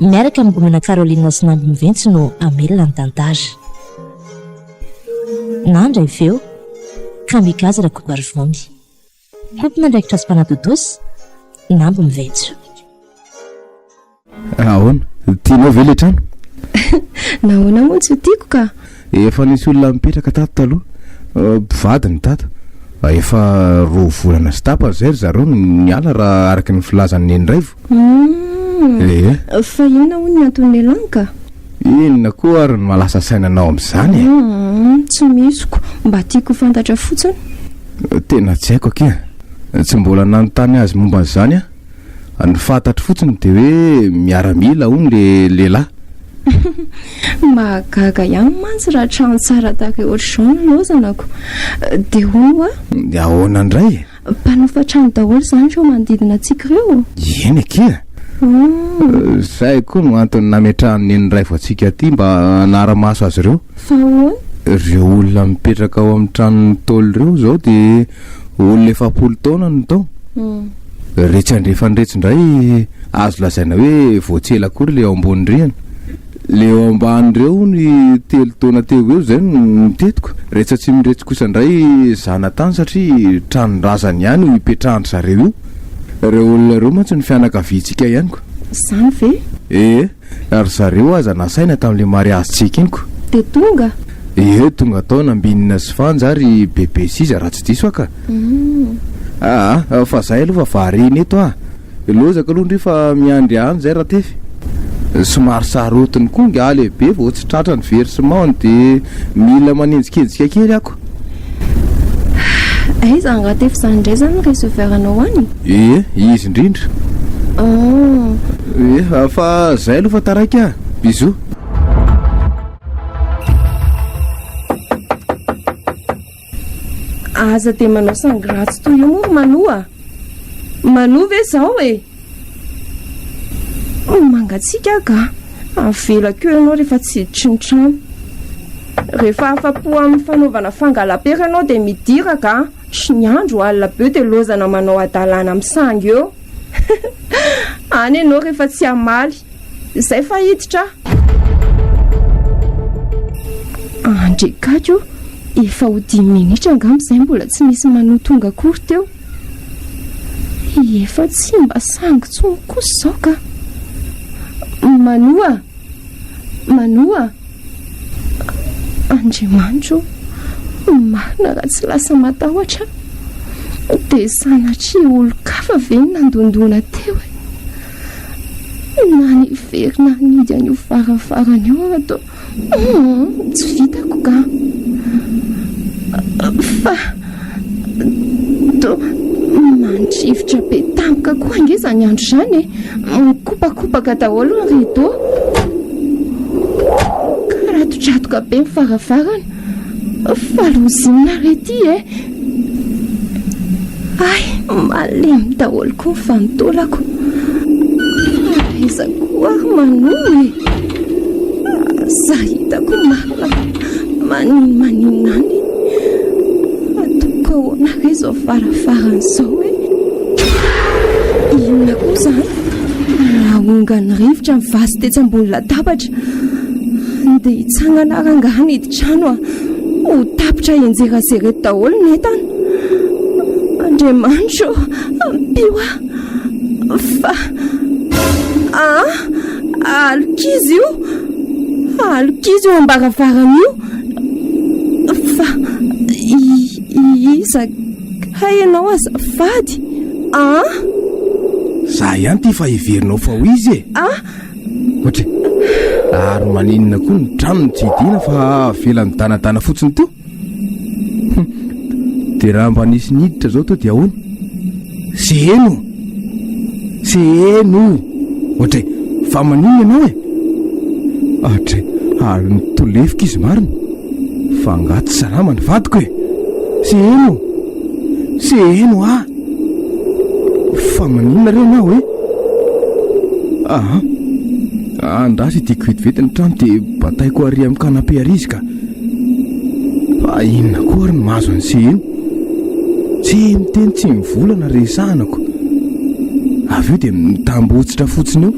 Miaraka amin'ny Gnomena Caroline sy Nandry Miventsy no hamelona ny tantara. Nandry avy eo, Kamikaze Rakotoarivony. Tompon'andraikitra sy mpanadodosa, Nandry Miventsy. Ahoana? Tianao ve ilay trano? Nahoana moa tsy ho tiako ka? Efa nisy olona nipetraka tato taloha. Mpivady ny tato. Efa roa volana sy tapany izay ry zareo no niala raha araka ny filazan'i Neniraivo. Humm. Eeh. Fa inona hono ny anton'ny elan ka? Inona koa ary no mahalasa saina anao amin'izany e? Humm. Tsy misy ko. Mba tiako ho fantatra fotsiny. Tena tsy haiko akia. Tsy mbola nanontany azy momba an'izany aho. Ny fantatro fotsiny dia hoe miaramila hono le lehilahy. Mahagaga ihany mantsy raha trano tsara tahaka i Orson no lozanako. Dia hono hoa? Dia ahoana indray e? Mpanofa trano daholo izany ireo manodidina antsika ireo? Eny akia e! Izay koa no antony nametrahan'ny Neny Raivo antsika aty mba hanara-maso azy ireo. Fa ahoana? Ireo olona mipetraka ao amin'ny tranon'ny Ntaolo ireo izao dia olona efapolo taona no tao. Iretsy andrefana iretsy indray azo lazaina hoe vao tsy ela akory ilay ao ambony rihana. Le ao ambany reo hono i telo taona teo eo zay no notetiko, retsy atsimo retsy kosa ndray zanatany satria tranondrazany ihany no ipetrahan-dry zareo io. Reo olona reo mantsy no fianakaviantsika ihany ko. Zany ve? Ee, na ry zareo aza nasaina tamle mariazy tsy ekeniko. De tonga? Ee tonga tao nambinina sy fanja ary bebe siza raha tsy diso aho ka. Hum. Aa fa zay aloha fa variana eto aa. Lozaka aloha ndry fa miandry any zay Ratefy. Somary sarotiny koa ngaha lehibe vao tsy tratra ny versement de mila manenjikejika kely ako. Hay izany Ratefy izany indray izany ny receveur-nao any? Ee, izy indrindra. An! Ee, fa izay aloha fa taraiky a! Bisous. Aza dia manao sangratsy toy io moa ry Manoa a! Manoa ve izao e? Ho mangatsiaka aho ga! Avelako eo ianao rehefa tsy hiditry ny trano. Rehefa afa-po amin'ny fanaovana fangalam-pera ianao dia midira ga! Sy ny andro alina be eo dia lozana manao hadalana amin'ny sangy eo. Any ianao rehefa tsy hamaly. Izay fa hiditra aho. Andre gaga o, efa ho dimy minitra angamba izay mbola tsy nisy manoa tonga akory teo. Efa tsy mba sangy tsony kosa izao ka. Manoa, manoa. Andriamanitro ô, ny marina raha tsy lasa matahotra dia sanatria olon-kafa ve no nandondona teo e? Na niverina nihidy an'io varavarana io aho toa tsy vitako kah! Fa. Mandrivotra be tampoka koa ange izany andro izany e. Mikopakopaka daholo ny rideau. Karatotratoka be ny varavarana. Falozinina ary ity e. Ay, malemy daholo koa ny vanitolako. Aiza koa ary manoma e. Za hitako ma. Maninona maninona any e? Atoko ahoana ve izao farafarany izao e? Inona koa izany? Nahongany rivotra ny vazo tetsy ambony latabatra. Ndeha hitsangana rangaha ny hidin-trano a. Ho tapitra enjerazerety daholo ny entana. Andriamanitro, ampio aho. Fa... Ah! Alokizo io! Alokizo eo am-baravarana io! Fa iza kay ianao azafady an! Za ihany ty fa heverinao fa ho izy e! Ah! Ohatry, ary maninona koa ny tranony tsy hidiana fa avela nidanadana fotsiny teo? Dia raha mba nisy niditra izao tao dia ahoana? Seheno! Seheno! Ohatray, fa maninona ianao e? Atray, ary nitolefika izy marina. Fa angaha tsy salama ny vadiko e? Seheno! Seheno ah! Fa maninona re ianao e? Aha! Andraso ity kovetivety ny trano dia bataiko ary amin'ny canapé ary izy ka. Fa inona koa ary ny mahazo an'i Seheno? Tsy miteny tsy mivolana ry sahanako. Avy eo dia mitambotsitra fotsiny eo.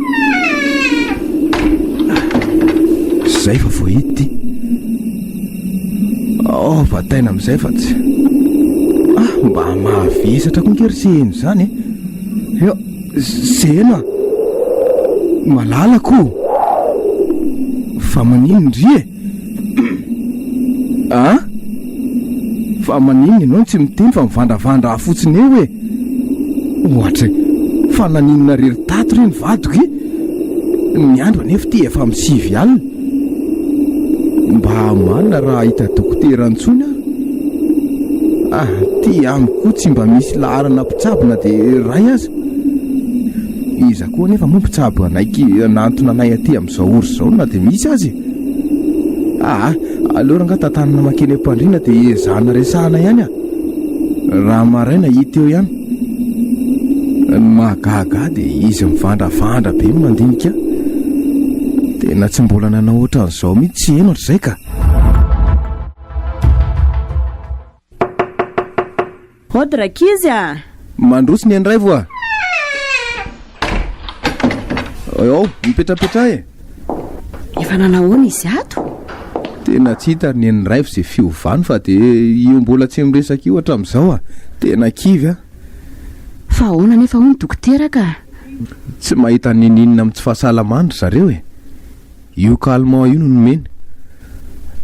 Izay fa voahity ity. Oh, vataina amin'izay fa tsy. Ah, mba mahavesatra koa nge ry Seheno izany e. Eh. Eo, Seheno ah. Malalako. Fa maninona ry e? An! Fa maninona ianao no tsy miteny fa mivandravandra ahy fotsiny eo e! Ohatra e! Fa naninona rery tato re ny vadiko e! Ny andro anefa ity efa amin'ny sivy alina. Mba manina raha hahita dokotera intsony aho. Aty amiko koa tsy mba misy laharana mpitsabo na dia iray aza. Iza koa anefa moa mpitsabo hanaiky hanantona anay aty amin'izao? Zao ory zao na dia misy aza e! Aa! aleo rangah tantanana makeny am-pandriana dia ezahana resahana ihany a! Raha maraina hita eo ihany. Ny mahagaga ahy dia izy mivandravandra be ny mandinika ahy. Tena tsy mbola nanao ohatran'izao mihitsy tsy heno hatrizay ka! Hody rankizy a! Mandroso ny an'iRaivo a! Ao, mipetrapetraha e! Efa nanao ahoana izy ato? Tena tsy hita ary ny an'iRaivo izay fiovany fa dia io mbola tsy miresaka io hatramin'izao a! Tena kivy a! Fa ahoana anefa hoy ny dokotera ka? Tsy mahita n'inon'inona amin'ny tsy fahasalamany ry zareo e! Io calmant io no nomeny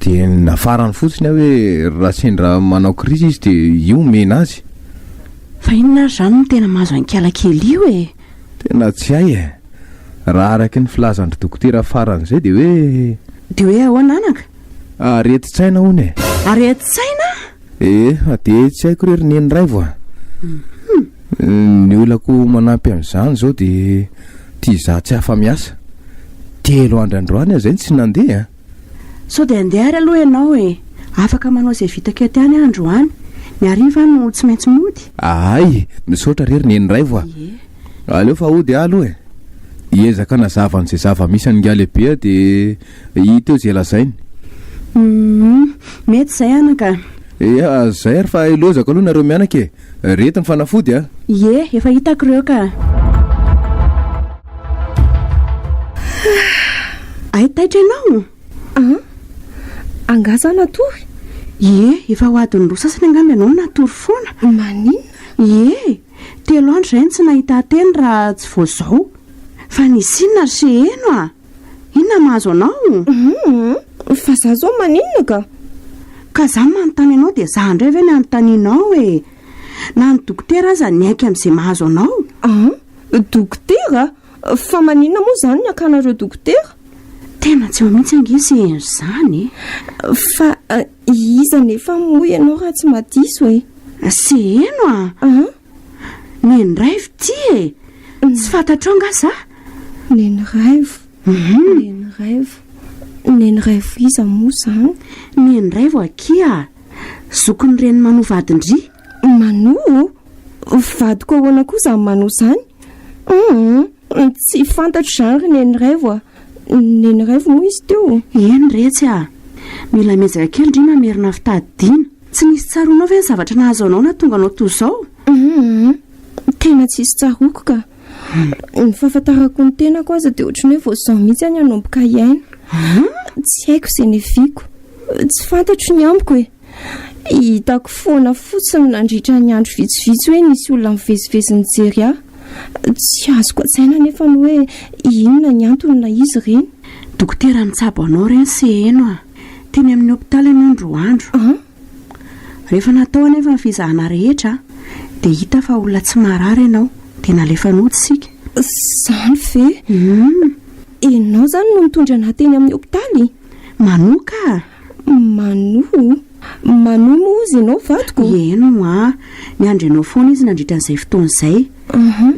de nafarany fotsiny aho hoe raha sendra manao crise izy de io omena azy. Fa inona ary izany no tena mahazo an'ikala kely io e? Tena tsy hay e! Raha araky ny filazan-dry dokotera faran'izay dia hoe. Dia hoe ahoana anaka? Aretin-tsaina hono e! Aretin-tsaina? Eh de tsy haiko re ry neny raivo a! Ny olako manampy an'izany izao de ity izaho tsy afa-miasa. Telo andro androany aho izay no tsy nandeha a! Sao dia handeha ary aloha ianao e! Afaka manao izay vitako eto ihany aho androany. Ny hariva aho no tsy maintsy mody. Ahay! Misaotra re ry neny raivo a! Aleo fa hody aho aloha e! Hiezaka hanazava an'izay zava-misy an'ingahy lehibe aho dia. I teo izay lazainy. Humm. Mety izay anaka a. Eia zay ary fa ilozako aloha nareo mianaka e. Reto ny fanafody a. Ie, efa hitako ireo ka. Hay taitra ianao? An? Angaha za natory? Ie, efa ho adiny roa sasany angamba ianao no natory foana. Maninona? Ie, telo andro izay no tsy nahita teny raha tsy vao izao. Fa nisy inona ry Seheno a? Inona mahazo anao? Humm! Fa za zao maninona ka? Ka za manontany anao dia za indray ve ny anontanianao e! Na ny dokotera aza niaiky amin'izay mahazo anao! Ah! Dokotera? Fa maninona moa izany ny akanareo dokotera? Tena tsy eo mihitsy ange ny sehen'izany e! Fa iza anefa moa ianao raha tsy madiso e? Seheno a! Ah! Neny raivo ty e! Tsy fantatrao nga za? Neny raivo, mhm. neny raivo, neny raivo iza moa zany? Neny raivo akia, zokin'ny reny Manoa vadin-dry. Manoa? Vadiko ahoana koa zany Manoa zany? Hum, tsy fantatro zany ry neny raivo a. Neny raivo moa izy teo? Eny retsy a, mila miezaka kely ndry mamerina fitadidiana. Tsy nisy tsaroanao ve ny zavatra nahazo anao nahatonga anao toa izao? Humm. Tena tsisy tsaroako ka. Ny fahafantarako ny tenako aza dia ohatran'ny hoe vao izao mihitsy aho nanomboka hiaina. Tsy haiko izay neviako. Tsy fantatro ny amiko e. Hitako foana fotsiny nandritra ny andro vitsivitsy hoe nisy olona mivezivezy nijery ahy. Tsy azoko an-tsaina anefa ny hoe inona ny antony ilay izy ireny. Dokotera mitsabo anao re ny seheno a! Teny amin'ny hopitaly ianao ny roa andro. Rehefa natao anefa ny fizahana rehetra dia hita fa olona tsy marary ianao dia nalefa nody isika. Izany ve? Ianao izany no nitondra an'ahy teny amin'ny hopitaly? Manoa ka! Manoa? Manoa moa hozy ianao vadiko? Eny hoa, niandry anao foana izy nandritra an'izay fotoana izay.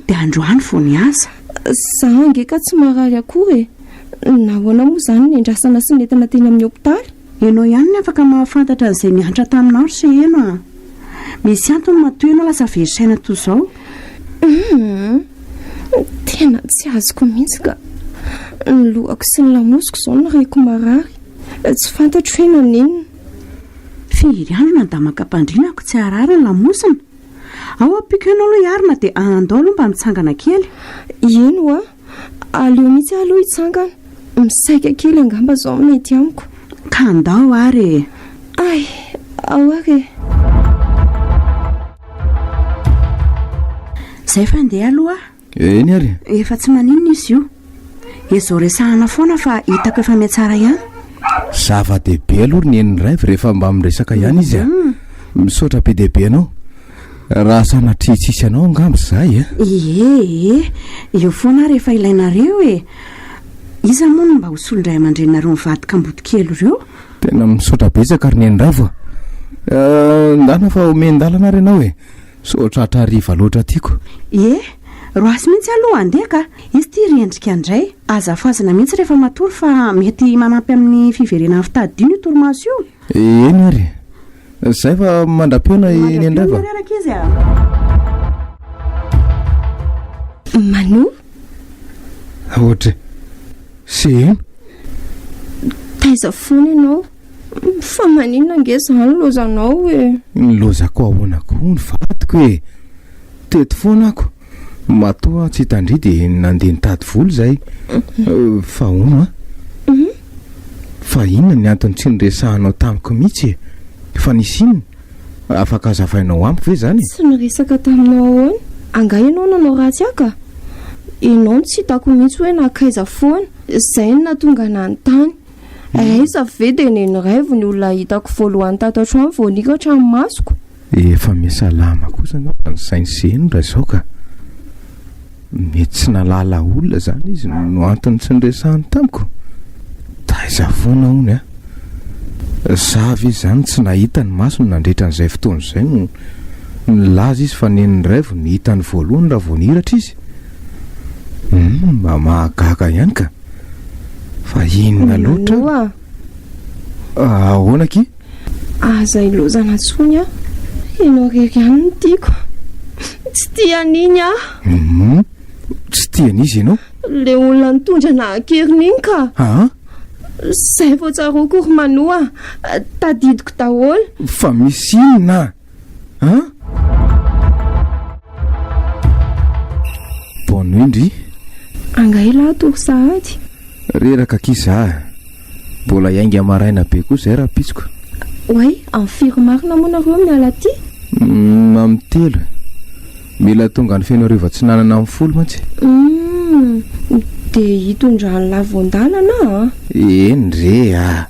Dia androany vao niasa. Izaho ange ka tsy marary akory e! Nahoana moa izany ny andrasana sy nentina teny amin'ny hopitaly? Ianao ihany ny afaka mahafantatra an'izay nihantra taminao ry seheno a! Misy antony matoa ianao lasa very saina toa izao. Humm! Tena tsy azoko mihitsy ka! Ny lohako sy ny lamosiko izao no reko marary, tsy fantatro hoe naninona. Firy andro no andaman-kampandriana ko tsy harary ny lamosina? Ao ampiko eo ianao aloha hiarina dia andao aloha mba mitsangana kely. Eny hoa! Aleo mihitsy aho aloha hitsangana. Misaika kely angamba izao ny mety amiko. Ka ndao ary e! Ay, ao ary e! Izay fa ndeha aloha aho. Eny ary e! Efa tsy maninona izy io. Ezo resahana foana fa hitako efa mihatsara ihany. Zava-dehibe aloha ry Neny Rêve rehefa mba miresaka ihany izy a! Misaotra be dia be anao. Raha sanatria tsisy anao angamba zay a? Ie e, eo foana aho rehefa ilainareo e! Iza moa no mba ho solon-dray aman-dreninareo mivady kamboty kely ireo? Tena misaotra betsaka ry nenindravo a! Ndana fa omen-dalana ary ianao e! Sao tratra hariva loatra tiako. Ie, roasy mihitsy aloha handeha ka! Izy ity ry Endrika indray, aza fazana mihitsy rehefa matory fa mety manampy amin'ny fiverenan'ny fitadidiana io torimaso io. Eny ary. Zay fa mandra-pihaona i Neny indray va? Reraka izy a. Manu? Audrey. Se eno. Taiza foana ianao? Fa maninona ange izany lozanao e? Ny lozako ahoana koa ny vadiko e? Teto foana ako. Matoa tsy tandria de nandeha nitady vola izay fa hono a! Fa inona ny antony tsy niresahanao tamiko mihitsy e! Fa nisy inona? Afaka azavainao amiko ve izany e? Tsy niresaka taminao ahoana? Angaha ianao nanao ratsy ahy ka! Ianao no tsy hitako mihitsy hoe nankaiza foana! Izay no nahatonga anà nitany. Aiza ve dia nen'ny raivo ny olona hitako voalohany tato an-trano vao nihiaka hatramin'ny masoko? Efa miasalama kosa anao fa ny sainy sy eny raha izao ka! Mety tsy nahalala olona izany izy no antony tsy niresahany tamiko? Taiza foana hono a! Sa ve izany tsy nahita ny masony nandritra an'izay fotoana izay no nilaza izy fa nen'ny raivo no hitany voalohany raha vao nihiratra izy? Humm mba mahagaga ihany ka! Fa inona loatra? Ahoana akia? Aza ilozana intsony an! Ianao irery ihany no tiako. Tsy tia an'iny aho. Hum, tsy tia an'iza ianao? Ilay olona nitondra anà an-keriny iny ka. Aa? Izay vao tsaroako ry Manoa. Tadidiko daholo. Fa misy inona? An? Bonne nuit ndry. Angaha elah ato ry sahady? Reraka akia za. Mbola hiainga maraina be koa izay rahampitsoka. Oay, amin'ny firy marina moa nareo miala aty? Mm, amin'ny telo. Mila tonga any Fenoarivo Atsinanana amin'ny folo mantsy. Mm, dia hitondrany lavo an-dalana ah. Eny re ah.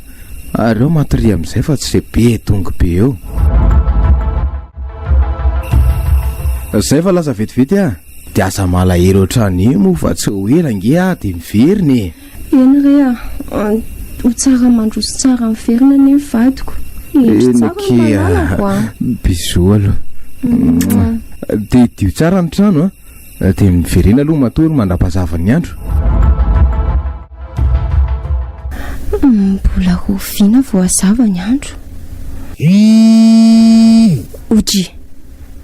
Aleo matoria amin'izay fa tsy izay be dongy be eo. Izay fa lasa vetivety ah. Dia aza malahelo hatrany eo moa fa tsy ho ela ange ah dia miverina e. Eny re ah, ho tsara mandroso tsara miverina anie ny vadiko. Hevitra tsara ny mpananako ah. Bisous aloha. Dia idio tsara ny trano ah. Dia miverena aloha matoa ry mandrapazava ny andro. Mbola ho vina voazava ny andro. Oji.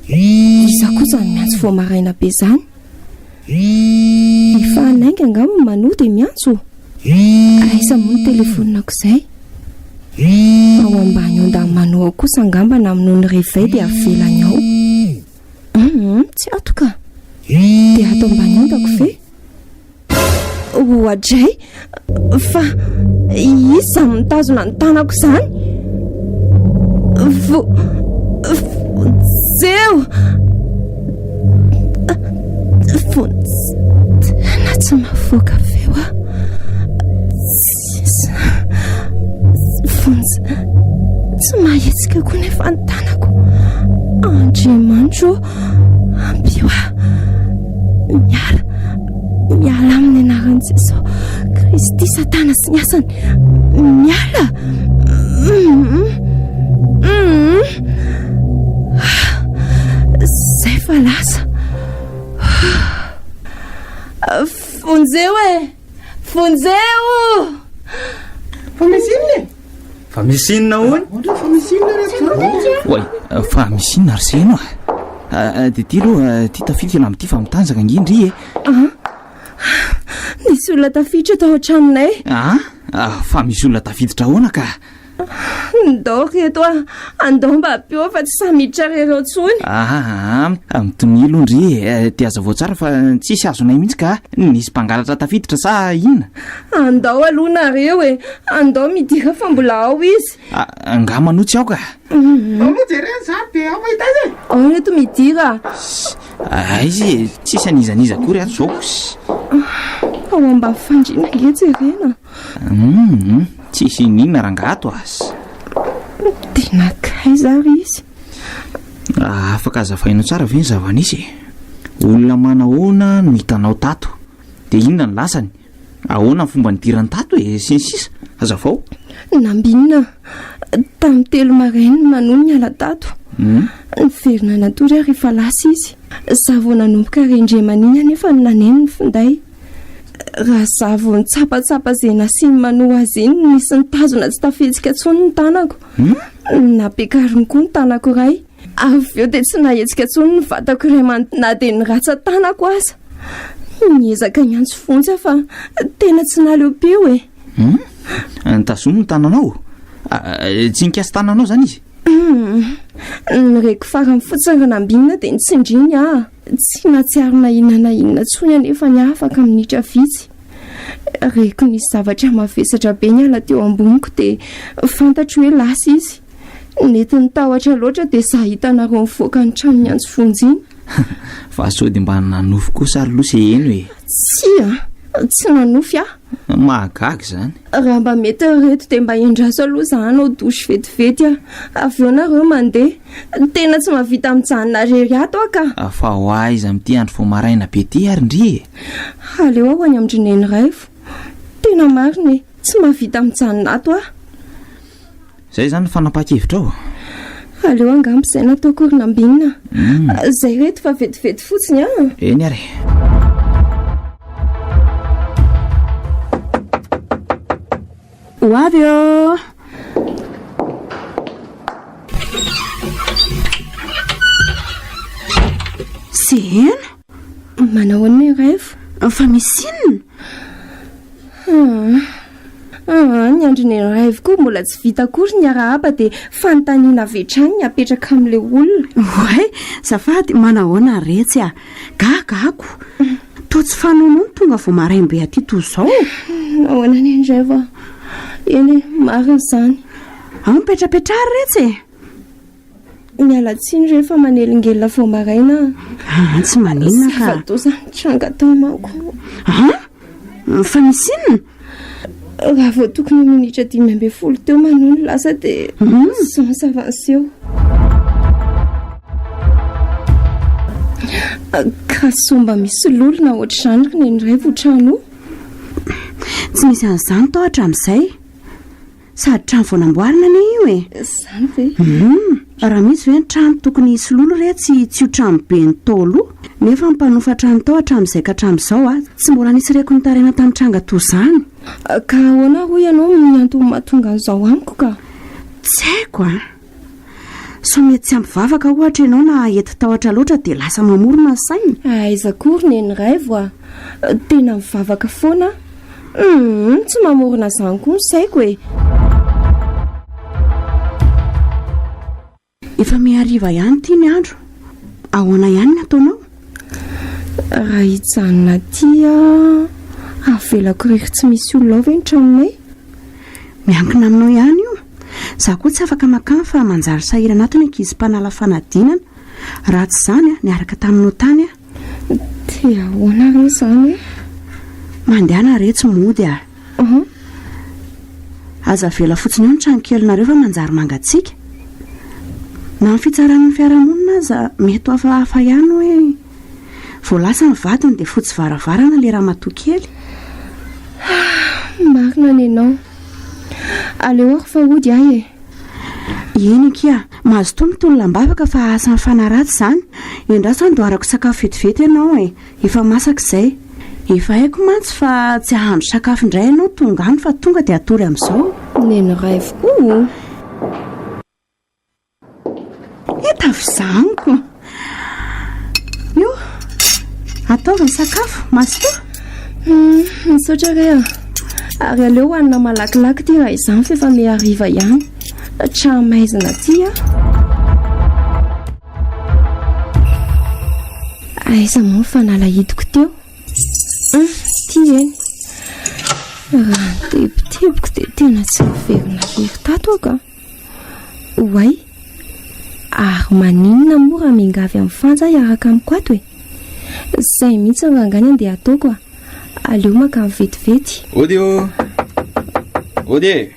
Iza koa zany miantso vao maraina be zany? Efa hanainga angamba ny manoa dia miantso. Aiza moa ny telefonako izay? Ao ambany ondan'ny manoa ao kosa angamba namonoan'ny réveil dia avelany ao. Humm tsy ato ka. Dia ato ambany ondako ve? Oadray! Fa iza izany mitazona ny tanako izany? Vo... Vonjeo! Vonjeo! Tena tsy mahafoaka feo aho. Tsisy. Tsy vonjy. Tsy mahetsika koa nefa ny tanako. Andriamanitro, ampio ahy. Miala. Miala amin'ny anaran'i Jesoa. Kristy Satana sy ny asany. Miala. Zay fa lasa. Vonjeo e! Vonjeo! Fa misy inona e? Fa misy inona hono? Ohatra fa misy inona re Tsaroko? Oay, fa misy inona ry seno ah? ah, ah dia ty aloha ah, ty tafika ilamy ty fa mitanjaka ngindry e. Ah, nisy olona tafiditra tao an-tranonay. Ah, ah, fa misy olona tafiditra ahoana ka? Ndao ry eto a! Andao mba ampiao fa tsy sahy miditra ry ireo intsony! Ahaa! Mitomia aloha ndry e! Dia hazavao tsara fa tsisy azonay mihitsy ka! Nisy mpangalatra tafiditra sa inona? Andao aloha nareo e! Andao midira fa mbola ao izy! Angaha manontsy aoka? Ndao aloha jerena izany dia ao mahita azy e! Ao ry reto midira! Aiza e! Tsisy an'iza n'iza akory ato izao! Ao ambavy fandriana ange jerena! Humm tsisy iniana rangah ato az. Tena akaiza ary izy? Afaka azavainao tsara ve ny zava-nisy e? Olona manahoana no hitanao tato? Dia inona ny lasany? Ahoana ny fomba nidirany tato e? sy ny sisa Hazavao. Nambinina tamin'ny telo marain'ny manoa niala tato. Hmm? Niverina natory aho rehefa lasa izy. Za vao nanomboka rendremania anefa no naneno ny finday. Raha za vao nitsapatsapa izay nasiany manoa azy iny no nisy nitazona tsy tafihetsika intsony ny tanako. Nampiakariny koa ny tanako iray. Avy eo dia tsy nahetsika intsony ny vatako iray manontolo na dia ny ratsan-tanako aza. Niezaka niantso fontsy aho fa tena tsy naleom-peo e. Nitazony ny tananao? Tsy nikasa tananao izany izy? Nireko farany fotsiny raha nambinina dia nitsindriny aho. Tsy nahatsiaro na inona na inona intsony anefa ny ahy afaka minitra vitsy. Reko nisy zavatra mavesatra be niala teo amboniko dia fantatro hoe lasa izy. Nety nitahotra loatra dia izaho hitanareo nivoaka ny trano niantso vonjiny. Fa sao dia mba nanofy kosa ary loha se heno e? Tsia, tsy nanofy aho. Mahagaga izany. Raha mba mety reto dia mba endraso aloha izaho hanao douche vetivety aho. Avy eo nareo mandeha. Ny tena tsy mahavita mijanona rery ato aho ka. Fa ho aiza amin'ity andro vao maraina be ity ary ndry e! Aleo aho any amin-dry Neny Raivo. Tena marina e, tsy mahavita mijanona ato aho. Izay izany ny fanapahan-kevitrao? Aleo angaha misaina ato aho koa ry Nambinina. Izay reto fa vetivety fotsiny an! Eny ary e! Ho avy Seheno Manao an'ny rêve Fa misy inona Ah, ny andriny rêve koa mbola tsy vita akory ny arahaba dia fanontaniana avy hatrany ny apetraka amin'ilay olona. Oay, zafady manahoana retsy ah. Gaga ako. Toa tsy fanaonao ny tonga vao maraim-be aty toa izao? Nahoana anie indray va? Eny e, marina izany. Ao mipetrapetra ary retsy e! Miala tsiny re fa manelingelina vao maraina ah. Ah, tsy maninona ka. Zava-doza nitranga tao manko. Ah, fa misy inona? Raha vao tokony ho minitra dimy ambin'ny folo teo manoa ny lasa dia sans hmm? s'avancer. Ka somba misy lolona ohatr'izany ry neny indray vao trano. Tsy misy an'izany tao hatramin'izay. Sady trano vao namboarina anie io e. Zany ve? Hum, raha misy ve ny trano tokony hisy lolo re tsy tsy io trano be ny taolo nefa ny mpanofa trano tao hatramin'izay ka hatramin'izao a tsy mbola nisy reko nitaraina tamin'ny tranga toa izany. Ka ahoana hoy ianao ny antony mahatonga an'izao amiko ka? Tsy haiko a. Sao mety tsy ampy vavaka ohatra ianao na hety tahotra loatra dia lasa mamorona ny sainy? Aiza koa ry neny raivo a! Tena mivavaka foana aho. Humm, tsy mamorona izany koa ny saiko e! Efa mihariva ihany ity ny andro. Ahoana ihany ny ataonao? Raha hijanona aty aho, avelako irery tsy misy olona ao ve ny tranonay? Miankina aminao ihany io. Izaho koa tsy afaka mankany fa manjary sahirana ato ny ankizy mpanala fanadinana. Raha tsy izany, niaraka taminao tany aho. Dia ahoana re izany e? Mandehana re tsy mody a! Ohh. Aza avela fotsiny eo ny tranokelinareo fa manjary mangatsiaka. Na ny fitsaran'ny fiarahamonina aza mety ho hafahafa ihany hoe vao lasa ny vadiny dia fotsy varavarana ilay ramatoa kely. Ahh, marina ny anao. Aleoako fa hody ahy e. Eny akia, mazotoa mitolona am-bavaka fa asa mifanaratsy izany. Endraso handoarako sakafo vetivety ianao e. Efa masaka izay. Efa haiko mantsy fa tsy hahandro sakafo indray ianao tonga any fa tonga dia atory amin'izao. Neny raivo o! He tafizaniko. Io, ataovy ny sakafo, Mazotoa. Misaotra re a. Ary aleo hohanina malakilaky ity raha izany fa efa mihariva ihany. Tra-maizina aty a. Aiza moa ny fanalahidiko teo? Hum, ty eny. Raha nitebitebiko dia tena tsy miverina very tato aho ka. Oay, ary maninona moa raha miangavy amin'ny fanja hiaraka amiko ato e? Izay mihitsy no rangany andeha ataoko a. Aleo makany vetivety. Ody ô! Ody e!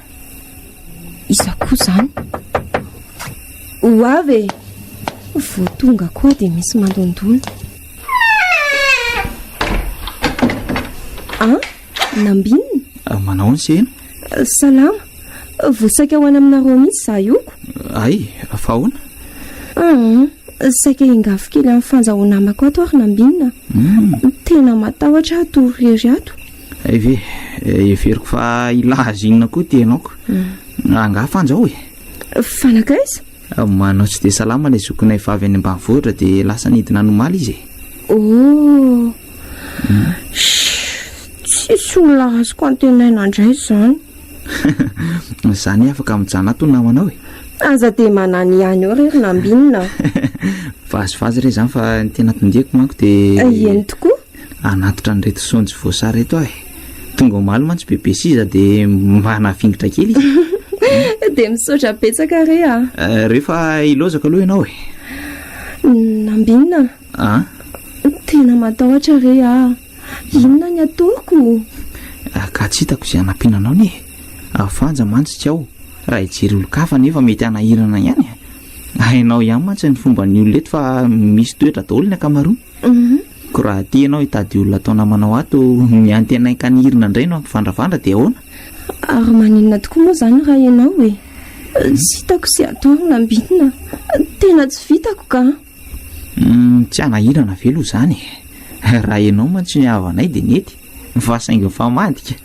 Iza koa izany? Ho avy e! Vao tonga koa dia misy mandondona. Ah, nambinina? Ah, manao ny sena? Salama. Vao saika ho any aminareo mihitsy izaho ioko. Ay, fa ahoana? Ah, saika hingafo kely amin'ny fanjahoana amako ato ary nambinina. Hmm. Tena matahotra aho tory irery ato. Hay ve, heveriko fa ilà azy inona koa ity ianao ko. Angaha fanjaho e? Fa nankaiza? Manao tsy dia salama ilay zokinay vavy any ambanivohitra dia lasa nidina any omaly izy e. Oh, tsisy olona azoko antenaina indray izany. Izany afaka mijanona ato ny namanao e. Aza dia manany ihany eo rery nambinina. Vazivazy re izany fa ny tena tondeko manko dia... Eny tokoa. Hanatitra an'ireto saonjo voasary ireto aho e! Tonga omaly mantsy Bebe Siza dia mba nafingitra kely izy. Dia misaotra betsaka re a! Rehefa hilaozaka aloha ianao e! Nambinina a! Tena matahotra re aho! Inona ny ataoko? Ka tsy hitako izay hanampiana anao anie e! Vanja mantsy tsy ao, raha hijery olon-kafa anefa mety hanahirana ihany e! Hainao ihany mantsy ny fomban'ny olona eto fa misy toetra daholo ny ankamaroany. Ko raha aty ianao hitady olona atao namanao ato, ny antenainka ny hirina indray no hampivandravandra dia ahoana? Ary maninona tokoa moa izany raha ianao e? Tsy hitako sy adoro na mbinina, tena tsy vitako ka! Tsy hanahirana ve aloha izany e? Raha ianao mantsy ny havanay dia nety. Va saingy fa madika.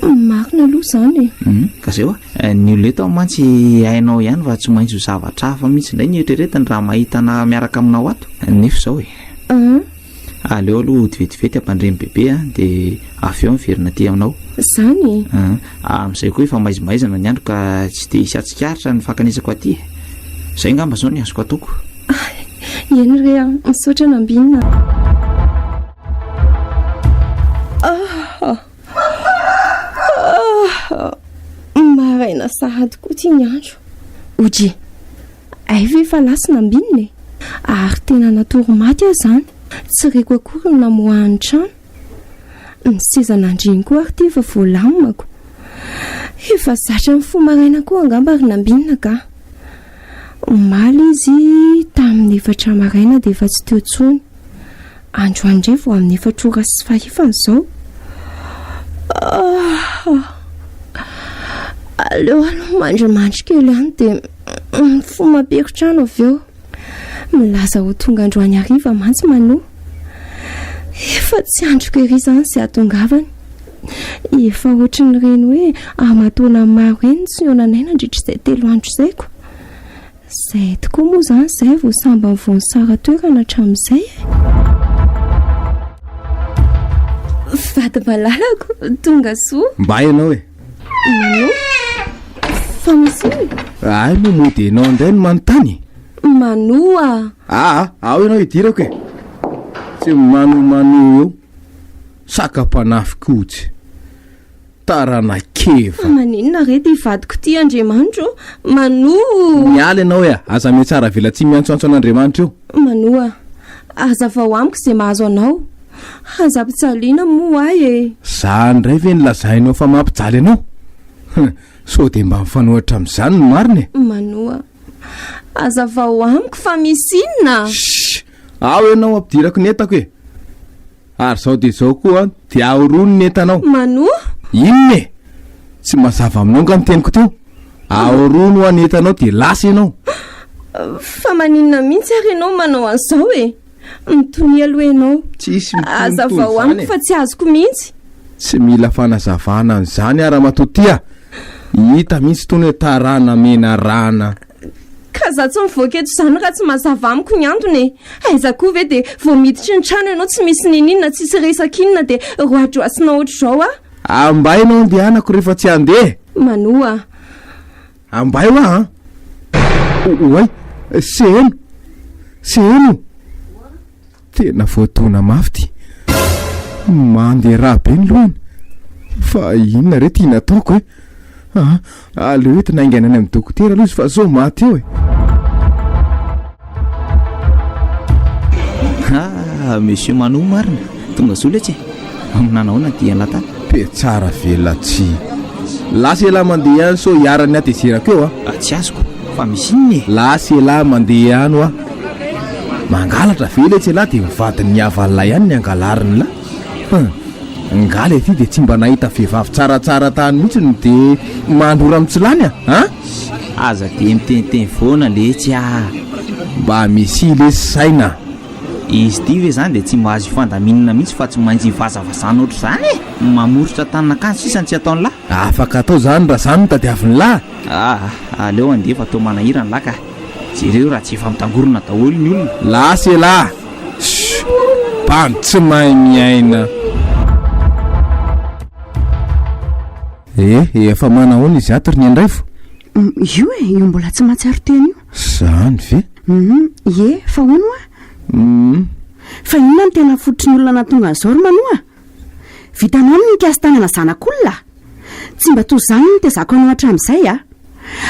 Marina aloha izany e. Mhm. Ka zay hoa, eh, ny olona eto mantsy hainao ihany fa tsy maintsy ho zavatra hafa mihitsy indray ny eritreretiny raha mahita na miaraka aminao ato. Nefa izao e. Ah, Aleo aloha hotivetivety hampandremy bebe a, dia avy eo miverina aty aminao. izany e. Ah, Amin'izay koa efa maizimaizina ny andro ka tsy dia hisy hahatsikaritra ny fankanesako aty e. Izay angamba izao ny azoko ataoko. Eny re a, misaotra nambinina. Maraina sahady koa ty ny andro. Oje, ay ve fa lasina ambinina e? Ary tena natory maty aho izany. Tsy reko akory ny namoahan'ny trano. Ny seza nandriny koa ary ty efa voalamako. Efa zatra ny fo maraina koa angamba ry nambinina ka. Omaly izy tamin'ny efatra maraina dia efa tsy teo intsony. Andro andry vao amin'ny efatra ora sy fahefany izao. Aleo aloha mandrimandry kely any dia mifoha mamperitrano avy eo. Milaza ho tonga androany hariva mantsy Mano. Efa tsy andriko ery izany izay hatongavany. Efa ohatry ny reny hoe aman-taonany maro eny ny tsy nihaonanay nandritra izay telo andro izay ko. Zay tokoa moa zany zay vao sambany vao nisara toerana hatramin'izay e! Vady malalako, tonga soa. Mba ianao e! Manao? Fa misy inona? Ahy moa mody ianao indray no manontany? Manoa! Aa, ao ianao idirako e! Tsy manomanoa eo, saka-panahy fikotsy. taranakeva. Fa maninona re ty vadiko ty Andriamanitra o? Manoa o! Miala ianao ea, aza mihatsara velatsihy miantsoantso an'Andriamanitra eo. Manoa, hazavao amiko izay mahazo anao. Aza ampijaliana moa ahy e! Za indray ve no lazainao fa mampijaly anao? Hum, sao dia mba mifanohitra amin'izany ny marina e! Manoa, hazavao amiko fa misy inona? Shh! Ao ianao ampidirako ny entako e! Ary zao dia zao koa dia ahorono ny entanao. Manoa? Inona e? Tsy mazava aminao nga ny teniko teo? Ahorono hoa ny entanao dia lasa ianao. Fa maninona mihitsy ary ianao manao an'izao e? Mitonia aloha ianao. Tsisy mitonia toy izany e. Hazavao amiko fa tsy azoko mihitsy. Tsy mila fanazavana an'izany aho ramatoa tia. Hita mihitsy itony hoe tarana menarana. Ka za tsy mivoaka eto izany raha tsy mazava amiko ny antony e! Aiza koa ve dia vao miditry ny trano ianao tsy misy niniana tsisy resaka inona dia roadroasina ohatr'izao a! Ambay ianao andehanako rehefa tsy handeha! Manoa. Ambay hoa an! Oay! Seheno! Seheno! Tena voadona mafy ity. Mandeha rà be ny lohany. Fa inona re ity nataoko e? Ah, aleo entina haingana any amin'ny dokotera aloha izy fa zao maty eo e. Ah, monsieur Manou marina. Tonga soa letsy e. Aminà nahoana dia lata? Pe tsara ve latsy? Lasa elah mandeha ihany sao iharan'ny hatezerako eo a! Ah, tsy azoko fa misy inona e? Lasa elah mandeha ihany hoa! Mangalatra ve letsy elah dia ny vadin'ny havan'lah ihany ny angalariny lah? Hum! Ngah le ty dia tsy mba nahita vehivavy tsaratsara tany mihitsy no dia mandrora amin'ny tsy lany a! An! Aza dia miteniteny foana letsy ah! Mba misy lesy saina! Izy ity ve izany dia tsy mba azo hifandaminana mihitsy fa tsy maintsy hivazavazana ohatr'izany e! Mamoritra tanin'akanjo sisa no tsy ataon'ny lahy. Afaka atao izany raha izany no tadiavin'ny lahy. Ah! aleo handeha fa toa manahirana ny lahy ka! Jereo raha tsy efa mitangorona daholo ny olona. Lasa elah! Shhh! Bandy tsy mahay miaina! Eh! efa manahoana izy ato ry Niandraivo? Io e! io mbola tsy mahatsiaro tena io. Izany ve? Humm ie fa hono oa? Humm fa inona no tena fototry ny olona nahatonga an'izao ry Manoa? Vitanao ny nikasy tanana zanak'olona? Tsy mba toa izany no nitezako anao hatramin'izay a!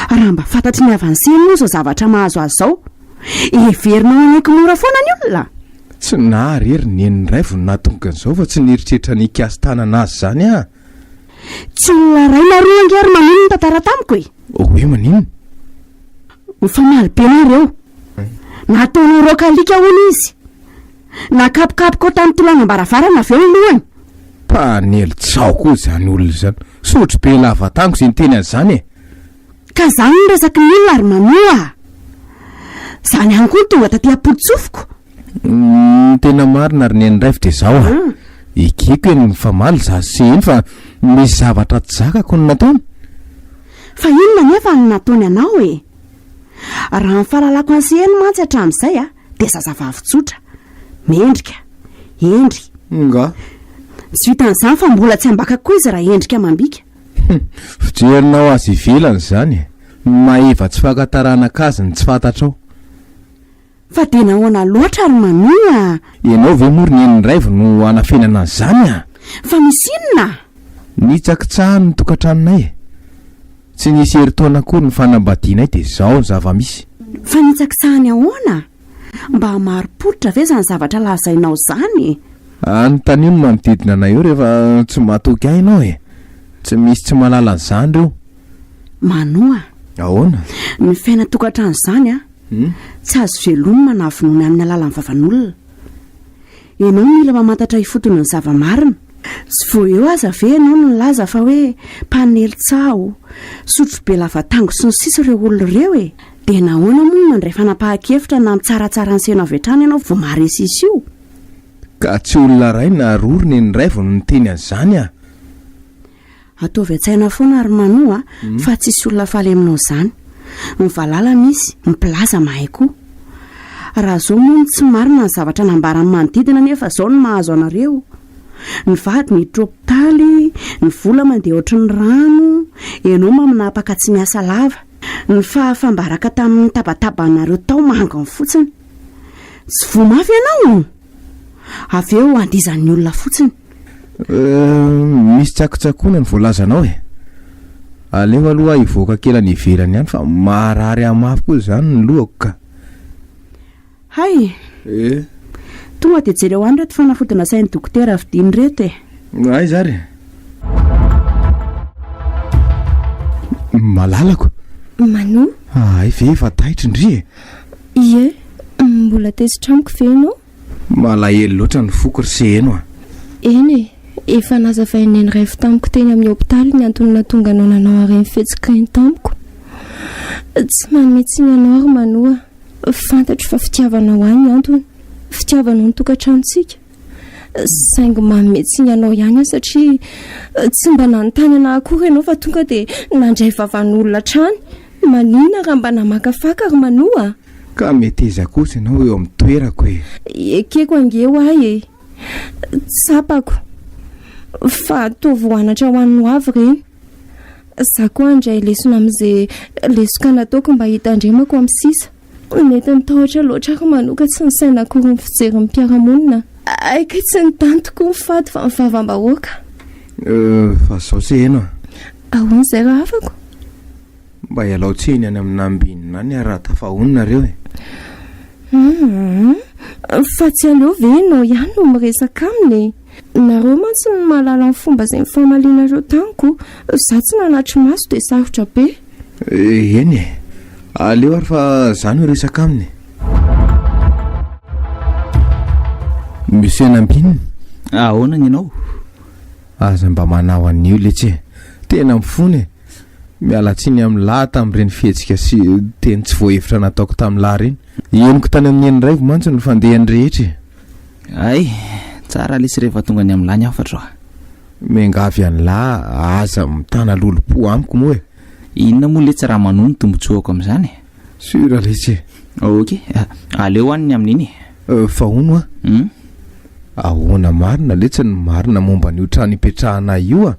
Raha mba fantatry ny avancé moa izao zavatra mahazo azy izao, heverinao hanaiky mora foana ny olona? Tsy naha rery ny nen'ny Raivo no nahatonga an'izao fa tsy nieritreritra ny hikasy tanana azy izany aho! Tsy olona iray na roa ange ry Manino nitantara tamiko e! Hoe maninona? Ho famaly be nareo eo. Nataonao rock alika hono izy. Nakapokapoka ao tamin'ny tolànam-baravarana avy eo ny lohany. Mpanely tsaho koa izany olona izany. Sotro be lava tango izay niteny an'izany e! Ka zany no resaky ny olona ry Manu a! Zany ihany koa no tonga taty am-pontsofiko. Ny tena marina ry Neny Raivo dia zao a! Ekeko eny mifamaly za sy se eny fa misy zavatra tsy zakako no nataony. Fa inona anefa no nataony anao e? Raha ny fahalalako an'i se eny mantsy hatramin'izay a, dia zazavavy tsotra, mendrika, hendry. Nga. Tsy vitan'izany fa mbola tsy ambaka koa izy raha hendrika amam-bika. Hum, fijerinao azy ivelany zany e! Mahefa tsy fakantaranaka azy ny tsy fantatrao. Fa dia nahoana loatra ry Mamie a! Ianao ve moa ry nenin'i Raivo no hanafenana an'izany a! Fa misy inona a! Nitsakitsahany ny tokantranonay e! Tsy nisy herintaona akory ny fanambadianay dia izao ny zava-misy. Fa nitsakitsahany ahoana a! Mba marim-pototra ve izany zavatra lazainao izany e? Anontanio ny manodidina anay eo rehefa tsy matoky ahy ianao e! Tsy misy tsy mahalala an'izany ireo. Manoa a! Ahoana? Ny fiainan-tokantrano izany an! Tsy azo velomina na vonoina amin'ny alalan'ny vavan'olona. Ianao no mila mamantatra ifotony ny zava-marina. Tsy vao eo aza ve ianao no nilaza fa hoe mpanely tsaho, sotrobe lava tango sy ny sisa ireo olona ireo e! Dia nahoana moa no nandray fanapahan-kevitra na mitsaratsara ny seno avy hatrany ianao vao maharesisy io? Ka tsy olona iray na roa ry neny iray vao no niteny an'izany a! Ataovy an-tsaina foana ry Manou a, fa tsisy olona faly aminao izany. Ny valala misy, ny mpilaza mahay koa. Raha izao moa no tsy marina ny zavatra nambaran'ny manodidina nefa izao no mahazo anareo. Ny vady miditra hopitaly, ny vola mandeha ohatry ny rano, ianao maminapaka tsy miasa lava. Ny fahafambaraka tamin'ny tabatabanareo tao mangony fotsiny. Tsy voa mafy ianao o! Avy eo andihizan'ny olona fotsiny. Euh, misy tsakotsakoana ny voalazanao e! Aleo aloha hivoaka kely any ivelany any fa marary amafy koa izany ny lohako ka! Hay! Tonga dia jereo any ireto fanafody nasain'i Dokotera vidiana ireto e! Aiza ary? Malalako! Manu? Ahay ve efa taitra ndry e! Ie, mbola tezitra amiko ve ianao? Malahelo loatra ny foko ry Seheno a! Eny e, efa nazavain'i Neny Raivo tamiko teny amin'ny hopitaly ny antony nahatonga anao nanao harem-fihetsika eny tamiko. Tsy manome tsiny anao ry Manu a! Fantatro fa fitiavanao ahy ny antony, fitiavanao ny tokantranontsika. Saingy manome tsiny anao ihany aho satria tsy mba nanontany anah akory ianao fa tonga dia nandray vavan'olona hatrany. Maninona raha mba namakafaka ry Manoa? Ka meteza kosa ianao eo amin'ny toerako e! Ekeko ange ho ahy e! Tsapako fa ataovy ho anatra ho an'ny hoavy ireny. Za koa handray lesona amze lesoka nataoko mba hitandremako am sisa. Nety nitahotra loatra ary manoka tsy nisaina akory ny fijery ny mpiara-monina. Aika tsy ny tany tokoa ny fady fa ny vavam-bahoaka. Fa zao se eno a! Ahoana zay ra afako? Mba ialao tsiny any amina ambinina any ary raha tafahonina nareo e! Hum! Fa tsy aleo ve enao ihany no miresaka aminy e! Nareo mantsy no mahalala ny fomba izay nifamalianareo tamiko. Izaho tsy nanatri-maso dia sarotra be. Eny e. Aleo ary fa izaho no hiresaka aminy e. Monsieur Nambinina. Ahoana ny anao? Aza mba manao an'io letsy e. Tena mifona e. Miala tsiny amin'i Lahy tamin'ireny fihetsika sy teny tsy voahevitra nataoko tamin'i Lahy ireny. Henoko tany amin'i Heniraivo mantsy ny fandehan'ny rehetra e. Hay, tsara lesy rehefa tonga any amin'lah ny hafatro a! Miangavy an'lah aza mitana lolompo amiko moa e! Inona moa letsy raha manohy ny tombontsoako amin'izany e! Sûr lesy e! Ok, aleo any ny amin'iny e! Fa hono a! Hum? Ahoana marina letsy ny marina momba an'io trano ipetrahanay io a!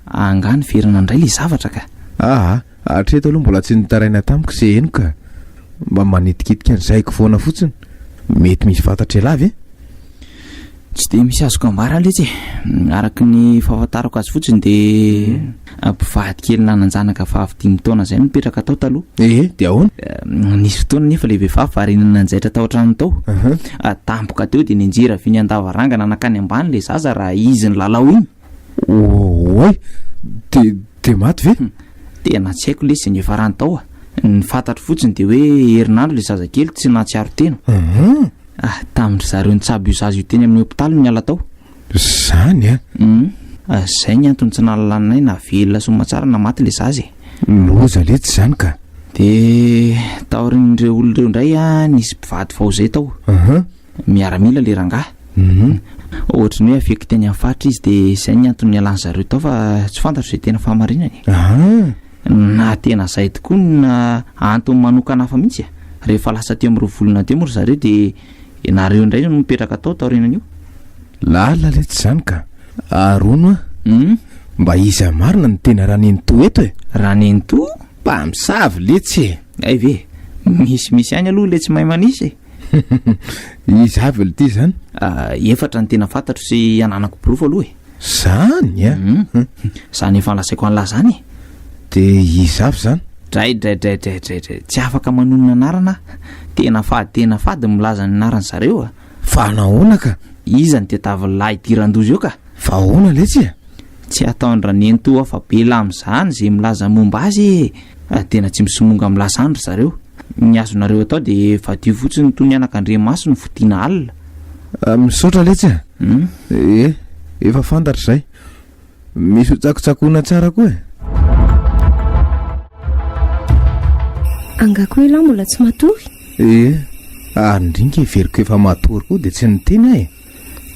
Angaha niverina indray ilay zavatra ka! Aa! Hatreto aloha mbola tsy nitaraina tamiko ze heno ka. Mba manitikitika ny saiko foana fotsiny. Mety misy fantatra ialahy ve? Tsy dia misy azoko ambara letsy e. Araka ny fahafantarako azy fotsiny dia mpivady kely nanan-janaka vavy dimy taona izay no nipetraka tao taloha. Ehe, dia ahoana? Nisy fotoana nefa ilay vehivavy variana nanjaitra tao an-tranony tao. Tampoka teo dia nianjera vy niandavarangana nankany ambany ilay zaza raha izy nilalao iny. Oay! De de maty ve? Hum, tena tsy haiko lesy ny efa rany tao a. Ny fantatro fotsiny dia hoe herinandro ilay zazakely tsy nahatsiaro tena. Uhum. Ah, tamin-dry zareo nitsabo io zaza io teny amin'ny hopitaly no niala tao. Zany a! Hum, ah, zay ny antony tsy nalalanay na velona sy matsara na maty ilay zaza e. Loza letsy zany ka! De taorian'ireo olona ireo indray a, nisy mpivady vao zay tao. Uhum. Miaramila le rangahy. Humm. Ohatry ny hoe affecté ny amin'ny faritra izy dia izay ny antony nialany zareo tao fa tsy fantatro izay tena fahamarinany e. Haa. Na tena izay tokoa no na antony manokana hafa mihitsy e. Rehefa lasa teo amin'ireo volana teo moa ry zareo dia ianareo indray no nipetraka tao taorianan'io. Lalina letsy izany ka. Aharoano an. Humm. Mba iza marina no tena Ranenitoa eto e? Ranenitoa? Mpamosavy letsy e. Hay ve. Misy misy ihany aloha ilay tsy mahay manisa e. Iza avy aloha ty zany? Ah, efatra ny tena fantatro sy ananako porofo aloha e. Zany a? Ah? Hmm. Zany efa nolazaiko an'lah zany e. De iza avy zany? Dray dray dray dray dray dray. Tsy afaka manonona anarana ah. Tena fady tena fady ny milaza ny anaran zareo ah. Fa nahoana ka? Iza ny tetavin'ny lahy dirandoza eo ka? Fa ahoana letsy e? Tsy ataon-dRanenitoa fa be lam zany ze milaza momba azy e. Ah, tena tsy misomonga amin'lah zany ry zareo. Ny azonareo atao de vadio fotsiny toy ny anak'Andriamasony fodiana alina. Ah, misaotra letsy a. Hmm? Eh, efa fantatra izay. Misy ho tsakotsakoina tsara koa e. Angako ialahy mbola tsy matory? Eh, ary indrinka heveriko efa matory koa dia tsy niteny aho e.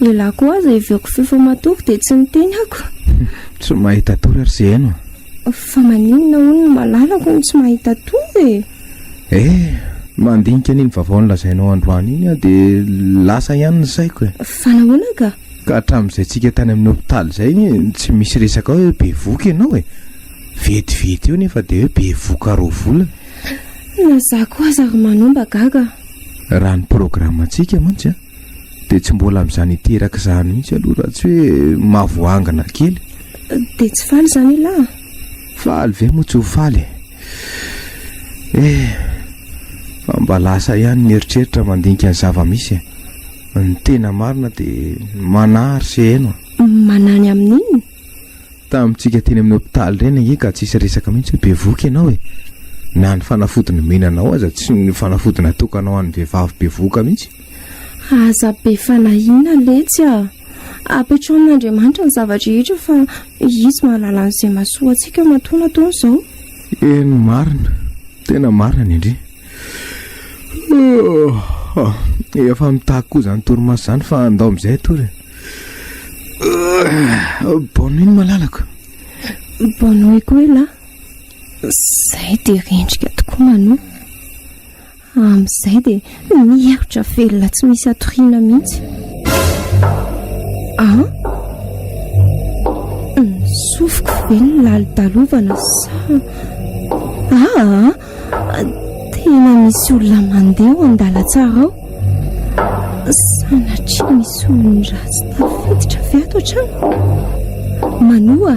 Ialahy koa aza heveriko feo fa matory dia tsy niteny ako. Tsy mahita tory ary ze haino a. Fa maninona hono ny malalako no tsy mahita tory e? Eh! Mandinika an'iny vaovao nolazainao androany iny aho dia lasa ihany ny saiko e. Fa nahoana ka? Ka hatramin'izay tsika tany amin'ny hopitaly izay tsy misy resaka hoe bevoka ianao e. Vetivety eo nefa dia hoe bevoka roa volana. Na za koa aza ry Manon mba gaga. Raha ny programme-ntsika mantsy an. Dia tsy mbola amin'izany hiteraka izany mihitsy aloha raha tsy hoe mavoangana kely. Dia tsy faly izany ialahy? Faly ve moa tsy ho faly? Eh, fa mba lasa ihany ny eritreritra mandinika ny zava-misy. Ny tena marina dia manahy ry Seheno. Manahy ny amin'inona? Tamintsika teny amin'ny hopitaly ireny ange ka tsisy resaka mihitsy hoe bevoka ianao e. Na ny fanafody nomena anao aza tsy ny fanafody natokanao an'ny vehivavy bevoka mihitsy. Aza be fanahiana letsy a! Apetraho amin'Andriamanitra ny zava-drehetra fa Izy mahalala an'izay mahasoa antsika matoa nataony izao. Eny marina, tena marina ny Andria. Efa mitaky koa izany torimaso izany fa andao amin'izay atory e. Bonne nuit malalako. Bonne nuit koa elah. Zay dia rendrika tokoa Mano. Amin'izay dia mihemotra velona tsy misy atoriana mihitsy. Ah? Nisofiko ve ny lalodalovana sa... Ah! Tena misy olona mandeha ao an-dalantsara ao. Sanatria misy olon-dratsy tafiditra avy ato hatrany. Manoa!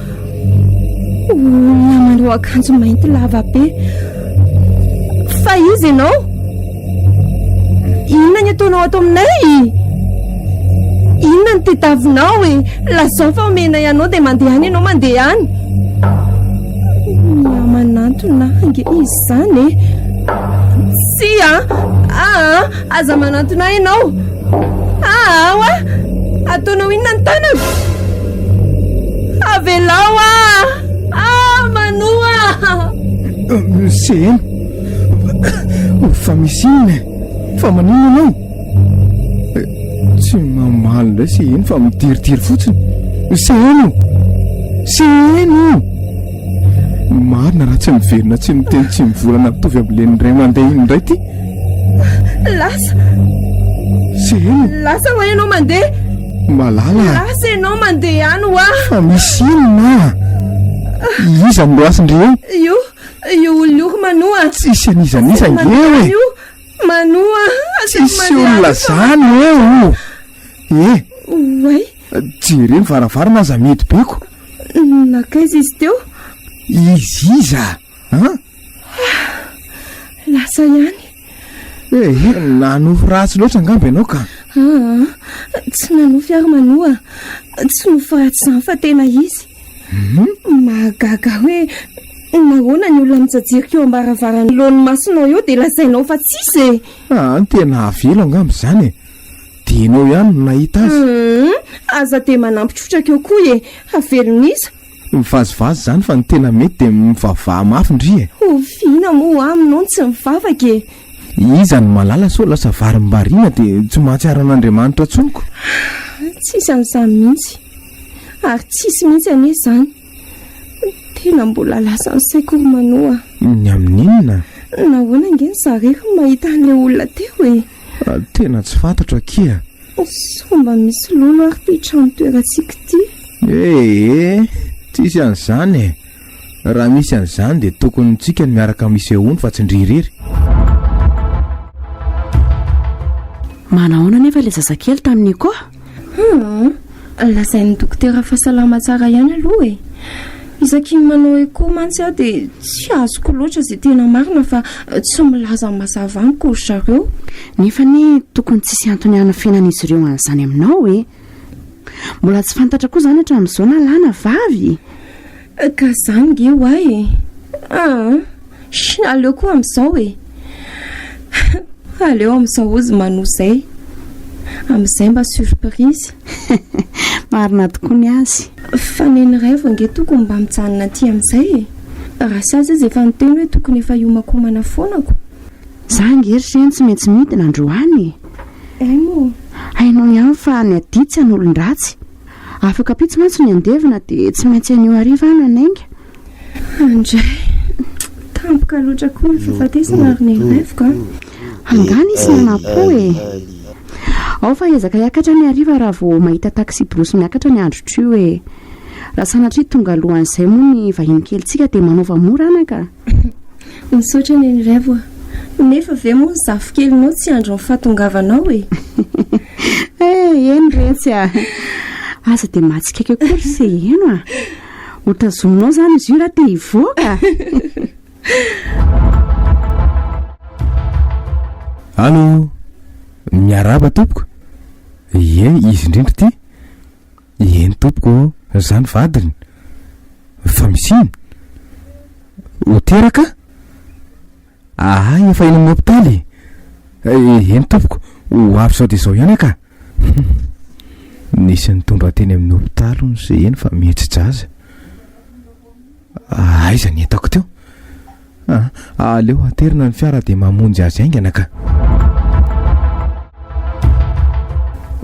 Olona manao akanjo mainty lava be. Fa izy ianao? Inona ny ataonao ato aminay? Inona ny tetavinao e? Lazao fa omena ianao dia mandeha any ianao mandeha any. Miamanantona ange izy izany e. Tsia! Ah! Aza manantona ahy ianao! Ahaao a! Ataonao inona ny tanako? Avelao aho! Ah! Manoa! CM, Fa misy inona e? Fa maninona ianao? Tsy mamaly indray CM fa midiridiry fotsiny. CM! CM! Marina raha tsy miverina tsy miteny tsy mivolana mitovy amin'ny len'ny ray mandeha iny indray ity. Lasa. Seheno. Lasa ho ianao mandeha. Malala. Lasa ianao mandeha ihany ho aho. Fa misy inona? Iza no loasin-dry eo? Io, io olona io ry Manoa. Tsisy an'izan'iza eo e. Manoa, asaiko mandeha Tsisy olona zany hoe o! Ee! Oay! Jereo ny varavarana aza mety be ko! Nankaiza izy teo? Izy iza an? Lasa ihany! Ee! Nanofy ratsy loatra angamba ianao ka! Aa! Tsy nanofy ary Manoa! Tsy nofy ratsy izany fa tena izy! Mahagaga hoe nahoana ny olona mijajirika eo am-baravarana eo ny masonao eo dia lazainao fa tsisy e! Aa ny tena hahavelo angamba izany e! Dia enao ihany no nahita azy. Hum aza dia manampy trotraka eo koa e! Havelon'iza? Mivazivazy izany fa ny tena mety dia mivavaha mafy ndry e! Oviana moa aminao ny tsy mivavaka e! Iza no malala sao lasa varimbariana dia tsy mahatsiaro an'Andriamanitra intsony ko. Tsisy an'izany mihitsy. Ary tsisy mihitsy anie izany. Tena mbola lasan'ny saiko ry Manô a. Ny amin'inona? Nahoana ange ny zare ry mahita an'ilay olona teo e? Tena tsy fantatro akia. Sao mba misy lolo ary ity trano toerantsika ity? Ee, tsisy an'izany e. Raha misy an'izany dia tokony tsika no miaraka misehoany fa tsy ndry irery. Manahoana anefa ilay zazakely tamin'i Nico? Hum, lazain'ny dokotera fa salama tsara ihany aloha e. Isaky ny manao echo mantsy aho dia tsy azoko loatra izay tena marina fa tsy milaza mazava amiko ry zareo. Nefa anie tokony tsisy antony hanafenan'izy ireo an'izany aminao e. Mbola tsy fantatra koa izany hatramin'izao na lahy na vavy e! Ka izany nge ho'ahy e! Ah! Sh! Aleo koa amin'izao e! Aleo amin'izao hozy manoa izay. Amin'izay mba surprise. Marina tokoa ny azy. Fa neny iray vao nge tokony mba mijanona aty amin'izay e! Raha sazy izy efa niteny hoe tokony efa hiomankomana foana ko. Za nge ry Seny tsy maintsy midina androany e. Hay moa e. Hainao ihany fa ny adia tsy an'olon-dratsy. Afaka ampitso mantsy ny andevona dia tsy maintsy anio hariva aho no hanainga. Andray, tampoka loatra koa ny fahafatesana ry Nirinaiviko a. Angaha nisy nanampo e. Ao fa hiezaka hiakatra ny hariva raha vao mahita taxi-brousse miakatra ny andro trio e. Raha sanatria tonga alohan'izay moa ny vahiny kelintsika dia manaova mora anaka. Misaotra Neny Raivo a! Nefa ve moa ny zafikelinao tsy handry ny fahatongavanao e? Eh, eny retsy a! Aza dia mahatsikaiky akory ry se heno a! Hotazominao izany izy io raha te hivoaka! Allô! Miarahaba tompoko! Ie, izy indrindra ity! Ieny tompoko ô! Zany vadiny fa misiny ho teraka ahay efa eny amin'ny hopitaly e! Eny tompoko, ho avy zao dia zao ihany aka! Nisy nitondra teny amin'ny hopitaly hono ze eny fa mihetsi-jaza. Aiza ny entako teo? Ah, aleo aterina ny fiara dia mamonjy azy haingana ka.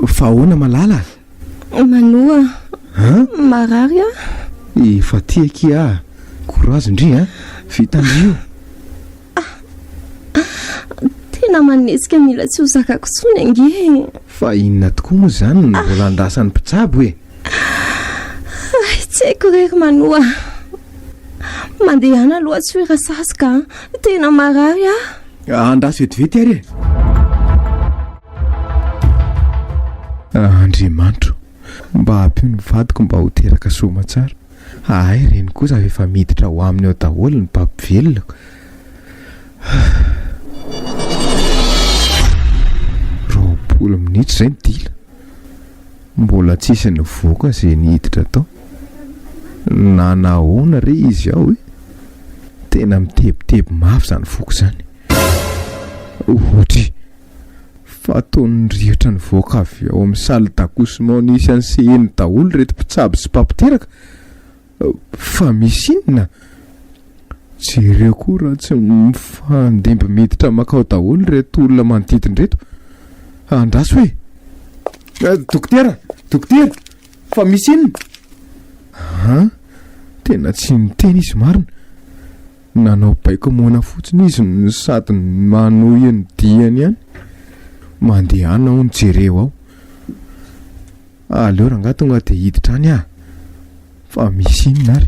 Fa ahoana Malala? Manoa. Ah? Marary ah. Efa tiaky ah. Courage ndry ah. Vitandry io. Ah. Tena manetsika mila tsy ho zakako tsony ange. Fa inona tokoa moa izany ny ah. volandrasan'ny mpitsabo e? Hay tsy haiko re ry Manoa. Mandehana aloha tsy hoe rasaska an. Tena marary aho. Ah, andraso vetivety ary e. Ah, Andriamanitro, mba ampio ny vadiko mba ho teraka soa aman-tsara. Ahay reny kosa fa efa miditra ao aminy ao daholo ny mpampivelona. Roapolo minitra izay ny dila. Mbola tsisy nivoaka ze niditra tao. Na nahoana re izy ao e! Tena mitebiteby mafy zany foko zany. Ohatry fa toa ny rihitra nivoaka avy ao amin'ny salle d'accouchement nisy an'i Seheno daholo ireto mpitsabo sy mpampiteraka Fa misy inona? Jereo koa raha tsy mifandimby miditra makao daholo ireto olona manodidina ireto. Andraso e! Eh, dokotera! Dokotera! Fa misy inona? Ah, tena tsy niteny izy marina. Nanao baiko moana fotsiny izy no sady manohy ny diany ihany. Mandehana aho ny jereo ao. Ah aleo rangah tonga dia hiditra any ah fa misy inona ary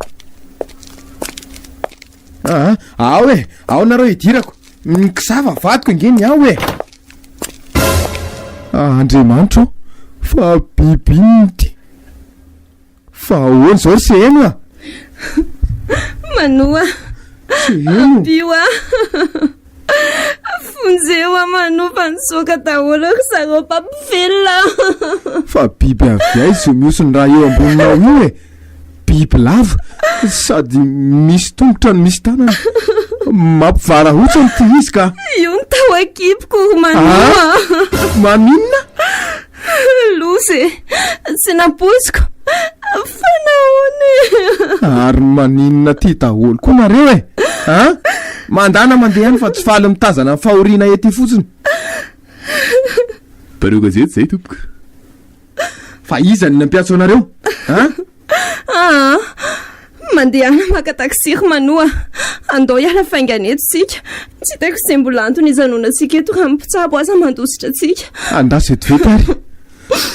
Aa, ao e, ao nareo hidirako. Mikisava vadiko nge ny ao e. Ah, Andriamanitro, fa biby inona ity? Fa ahoana izao ry Seheno a? Manoa. Seheno. Ampio a. Vonjeo aman'o fa nisoaka daholo ry zareo mpampivelona. Fa biby avy aiza io mihoso ny raha eo amboninao io e? Biby lava sady misy tongotra no misy tanana. Mampivarahontsy an'ity izy ka. Io ny tao an-kiboko ry Manou a. Ah! Maninona? Loza e! Tsy nampoiziko! Fa nahoana e? Ary maninona aty daholo koa nareo e! A! Mandana mandeha any fa tsy faly mitazana ny fahoriana ety fotsiny. Mpanao gazety izay tompoko. Fa iza no nampiantso anareo? A! Aa! Mandehana maka taxi ry Manoa a! Andao hiala faingana eto isika. Tsy hitako izay mbola antony hijanona antsika eto raha ny mpitsabo aza mandositra antsika. Andraso eto vita ary e!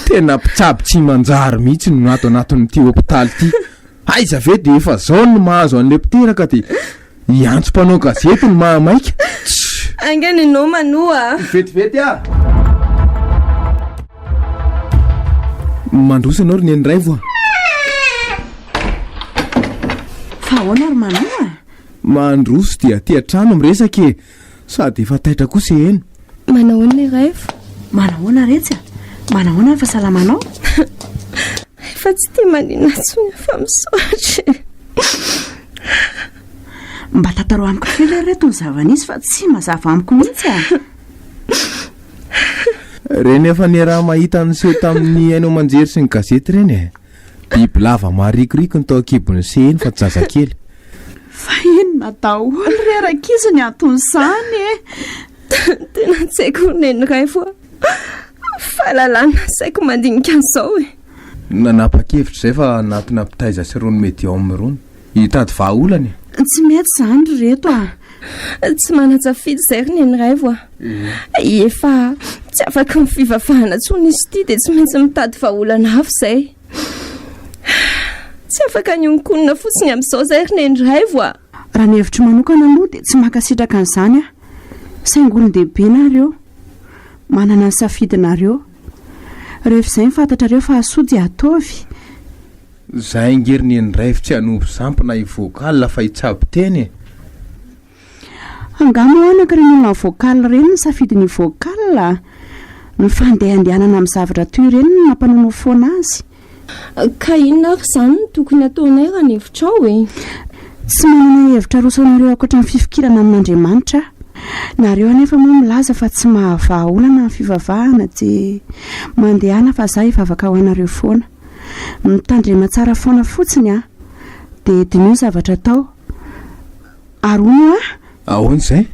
Tena mpitsabo tsy manjary mihitsy no ato anatin'ity hopitaly ity. Aiza ve dia efa izao no mahazo an'ilay mpiteraka dia Hiantso mpanao gazety ny mahamaika. Tch! Ainga ny noma no a! Vetivety a! Mandroso ianao ry neny raivo a! Fa ahoana ry Manoa? Mandroso dia aty an-trano miresaka e! Sady efa taitra kosa heno. Manahoana ny ref? Manahoana retsy a? Manahoana ny fasalamanao? Efa tsy tia manina tsony fa misaotra. Mba tantaro amiko kely ary reto ny zava-nisy fa tsy mazava amiko mihitsy a. Reny efa niaraha mahita niseho tamin'ny haino aman-jery sy ny gazety reny e. Bibilava maharikoriko no tao an-kibon'ny CENI fa tsy zazakely. Fa inona daholo re rankizy ny anton'izany e? Tena tsy haiko neniray fa fahalalana nasaiko mandinika an'izao e. Nanapa-kevitra izay fa hanatona mpitaiza sy irony medium irony. Hitady vahaolana e! Tsy mety izany ry reto a! Tsy manan-tsafidy izay ry neny raivo a! Efa tsy afaka amin'ny fivavahana intsony izy ity dia tsy maintsy mitady vahaolana hafa izay. Tsy afaka ny honkonina fotsiny amin'izao izay ry neny raivo a! Raha ny hevitro manokana aloha dia tsy mankasitraka an'izany aho. Saingy olon-dehibe nareo. Manana ny safidinareo. Rehefa izay ny fantatrareo fa hasoa dia ataovy. Za inger ny ndraiv tsy hanompo samp na i vocal fa hitsabo teny e. Angah moa anaka ireny olona vocal ireny no safidy ny vocal? Ny fandehandehanana amin'ny zavatra toy ireny no nampanonofona azy. Ka inona ary izany no tokony hataonay raha ny hevitrao e? Tsy manana hevitra aroso anareo ankoatry ny fifikirana amin'Andriamanitra aho. Nareo anefa moa milaza fa tsy mahavaha olana ny fivavahana dia mandehana fa za hivavaka ho anareo foana. Mitandrema tsara foana fotsiny a! Dia diniho ny zavatra atao. Ary hono hoa? Ahoana izay?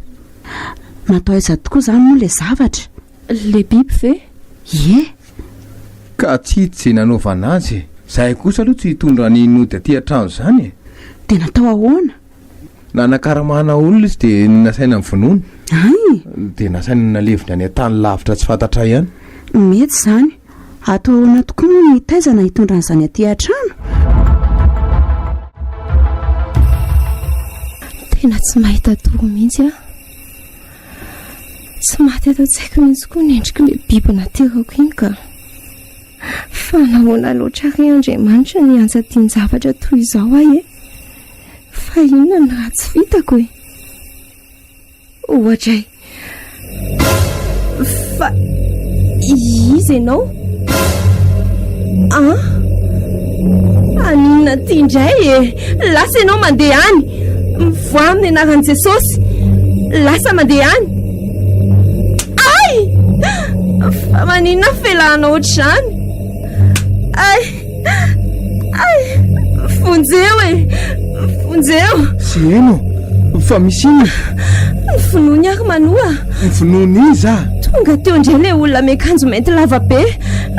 Natao aiza tokoa izany moa ilay zavatra? Ilay biby ve? Ie! Ka tsy hita izay nanaovana azy e! Izahay kosa aloha tsy hitondra ny nody aty an-trano izany e! Dia natao ahoana? Nanakaramana olona izy dia nasaina nivonona. Ay! Dia nasaina nalevina any an-tany lavitra tsy fantatray ihany. Mety izany. Atao ahoana tokoa moa ny hitaizana hitondra an'izany aty an-trano? Tena tsy mahita tory mihitsy aho. Tsy maty ato an-tsaiko mihitsy koa ny endrik'ilay biby naterako iny ka. Fa nahoana loatra re Andriamanitra ny hiantsa tian-javatra toy izao ahy e? Fa inona ny ratsy vitako e? Ohatray. Fa izy ianao? Ah? Anina ty indray e. Lasa ianao mandeha any. Mivoaha amin'ny anaran'i Jesosy. Lasa mandeha any. Ay! Fa maninona felahana ohatr'izany? Ay! Ay! Vonjeo e! Vonjeo! Tsy heno! Fa misy inona? Ny finoany ary manoa! Ny finoany iza? Tonga teo indray ilay olona miakanjo mainty lava be,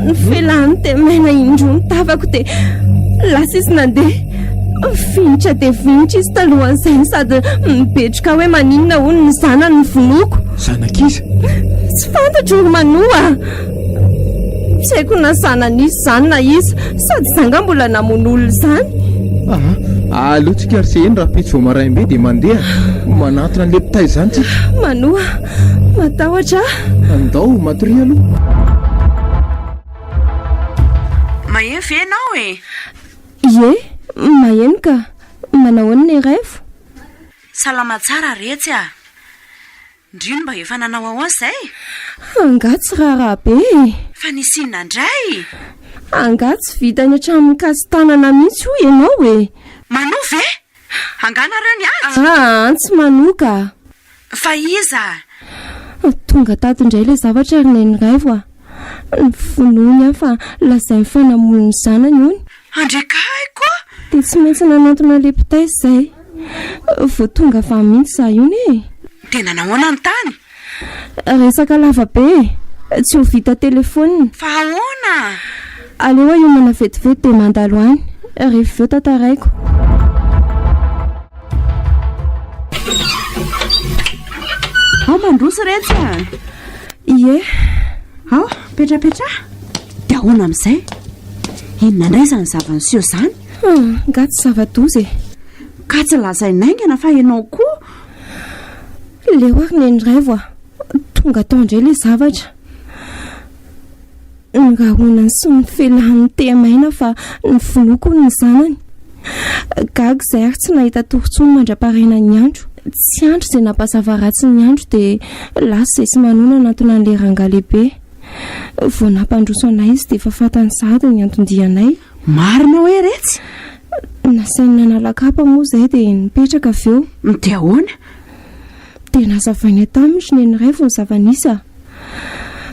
ny felany dia maina indro ny tavako dia lasa izy nandeha. Finitra dia finitra izy talohan'izay sady mibetroka hoe maninona hono ny zanany ny vonoako. Zanak'iza? Tsy fantatro ry manoa! Tsy haiko na zanany izy izany na iza. Sady izaho angaha mbola namono olona izany. Ah, aleontsika ry Seheno rahampitso vao maraim-be dia mandeha. Manantona an'ilay mpitay izany tsika. Manoa, matahotra aho. Andao, matoria aloha. Maheno ve ianao e? Ie, maheno ka. Manao ahoana ny revo? Salama tsara Retsy a! Ndryy mba efa nanao ahoan izay? Angaha tsy raharaha be e! Fa nisy inona ndray? Angaha tsy vita any atramin'ny kasi-tanana mihitsy hoy ianao e! Manoa ve? Angaha nareo niady? Ahaa tsy manoa ka! Fa iza? Tonga tato indray ilay zavatra ry Neniraivo a! Ny finoany aho fa lazainy fa namono ny zanany hono. Handrekahiko a! Dia tsy maintsy nanantona ilay mpitay izay. Vao tonga avy any mihitsy izaho iny e! Dia nanao ahoana ny tany? Resaka lava be e! Tsy ho vita telefaonina. Fa ahoana? Aleo ahomana vetivety dia mandalo any. Rehefa avy eo tantaraiko. Ao mandroso iretsy a! Ie. Ao, petrapetraha. Dia ahoana amin'izay? Inona indray izany zava-niseho izany? Hmm, nga tsy zava-doza e. Ka tsy lazain'ny haingana fa ianao koa. Leo ary neny raivo ah. Tonga tao indray ilay zavatra. Nirahonany sy nifelahan'ny tehamaina fa nivonoako ny zanany. Gaga izay ary tsy nahita torintsony mandra-paraina ny andro. Tsy andro izay nampazava ratsy ny andro dia lasa izay tsy manonanantona an'ilay rangahy lehibe. Vao nampandroso anay izy dia efa fantany sahady ny anton-dianay. Marina hoe retsy? Nasainy nanala kapa moa izay dia nipetraka avy eo. Dia ahoana? Dia nazavainay taminy ry neniraivo ny zava-nisy a!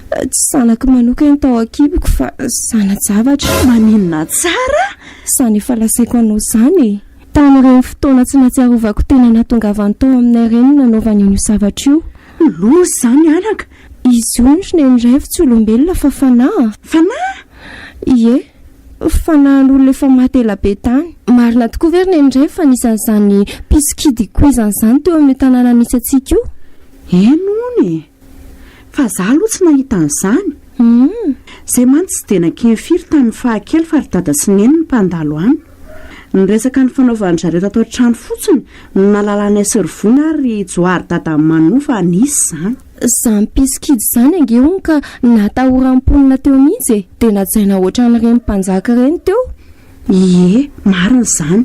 Tsy zanako manokana ny tao an-kiboko fa zana-javatra. Maninona tsara? Izany efa lazaiko anao izany e! Tamin'ireny fotoana tsy nahatsiarovako tena nahatongavany tao aminay ireny no nanaovany an'io zavatra io. Loza izany anaka! Izy io andry neny raivo tsy olombelona fa fanahy. Fanahy? Ie, fanahin'olona efa maty ela be tany. Marina tokoa ve ry neny raivo fa nisy an'izany mpisokidy koizany izany teo amin'io tanàna misy antsika io? Eny hono e! Fa izaho aloha tsy nahita an'izany. Humm. Izay mantsy tsy dia nankeny firy tamin'ny fahakely fa ry dada sy neny no mpandalo any. Ny resaka nifanaovan-dry zareo tato an-trano fotsiny no nahalala an'i Asrvona ary ry Johary dadan'i Manou fa nisy izany. Izany mpitsikidy izany ange hono ka natahoran'ny mponina teo mihitsy e! Dia najaina hoatran'ireny mpanjaka ireny teo. Ie, marina izany.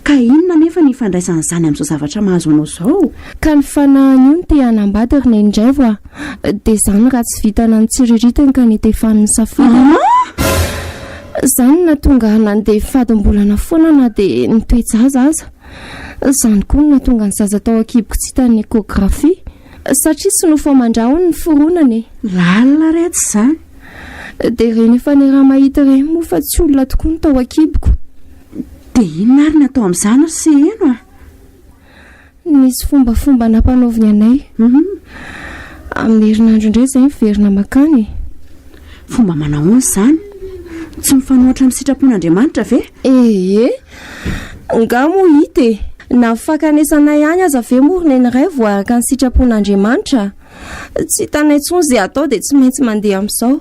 Ka inona anefa ny ifandraisan'izany amin'izao zavatra mahazo anao izao? Ka ny fanahiny io no te hanambady ry Neny indray va? Dia izany raha tsy vita nanitsiriritiny ka nitefany ny safidiny. An! Izany no nahatonga nandeha fadim-bolana foana na dia ny toe-jaza aza. Izany koa no nahatonga ny zaza tao an-kiboko tsy hitan'ny échographie. Satria tsy nofo aman-dra hono ny fironana e! Lalina re tsy izany? Dia ireny efa niraha-mahita ireny moa fa tsy olona tokoa no tao an-kiboko. Dia inona ary no atao amin'izany hoy Seheno a? Nisy fombafomba nampanaoviny anay. Amin'ny herinandro indray izay miverina makany e. Fomba manahoana izany? Tsy mifanohatra amin'ny sitrapon'Andriamanitra ve? Ee, angaha moa hita e. Na ny fankanesanay any aza ve moa ry Neniray vao araka ny sitrapon'Andriamanitra? Tsy hitanay intsony izay atao dia tsy maintsy mandeha amin'izao.